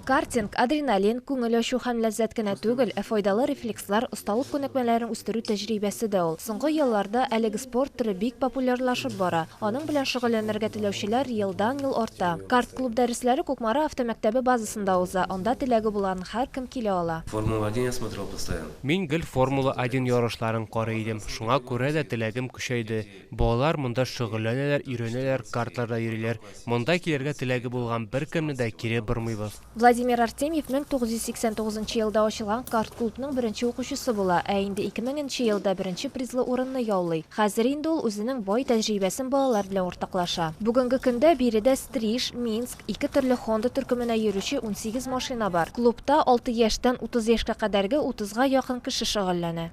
Картинг, адреналин, күңел ачу һәм ләззәт кенә түгел, ә файдалы рефлекслар, осталык күнекмәләрен үстерү тәҗрибәсе дә ул. Соңгы елларда әлеге спорт төре бик популярлашып бара. Аның белән шөгыльләнергә теләүчеләр елдан-ел арта. Карт-клуб дәресләре Кукмара автомәктәбе базасында уза, анда теләге булган һәркем килә ала. Формула-1 я смотрел постоянно. Мин гел Формула-1 ярышларын карый идем, шуңа күрә дә теләгем көчәйде. Балалар монда шөгыльләнәләр, өйрәнәләр, картларда йөриләр. Монда килергә теләге булган беркемне дә кире бормыйбыз. Владимир Артемьев 1989 елда ачылган карт-клубның беренче укучысы була, ә инде 2000 нче елда беренче призлы урынны яулый. Хәзер инде ул үзенең бай тәҗрибәсен балалар белән уртаклаша. Бүгенге көндә биредә Стриж, Минск, Ике төрле Honda төркеменә йөрүче унсигез машина бар. Клубта алты яшьтән утыз яшькә кадәрге утызга якын кеше шөгыльләнә.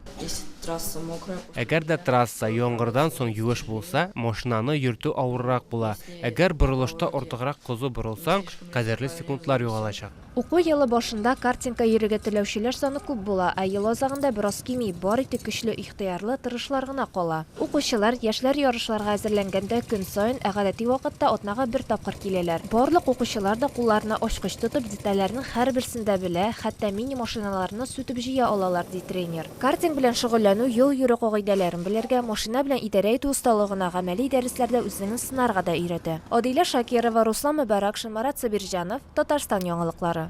Әгәр дә трасса яңгырдан соң юеш булса, машинаны йөртү авыррак була. Әгәр борылышта артыграк козу борылсаң, кадерле секундлар югалачак. Уку елы башында картинка йөрергә теләүчеләр саны күп була, ә ел азагында бераз кими, бары тик көчле ихтыярлы, тырышлар гына кала. Укучылар, яшьләр ярышларга әзерләнгәндә көн саен, ә гадәти вакытта атнага бер тапкыр киләләр. Барлык укучылар да кулларына ачкыч тотып, детальләрнең һәрберсен дә белә, хәтта мини-машиналарны сүтеп җыя алалар, ди тренер. Картинг белән шөгыльләнү, юл йөрү кагыйдәләрен белергә, машина белән идарә итү осталыгына гамәли дәресләрдә үзеңне сынарга да өйрәтә. Адилә Шакирова, Руслан Мөбаракшин, Марат Сабирҗанов, Татарстан яңалыклары.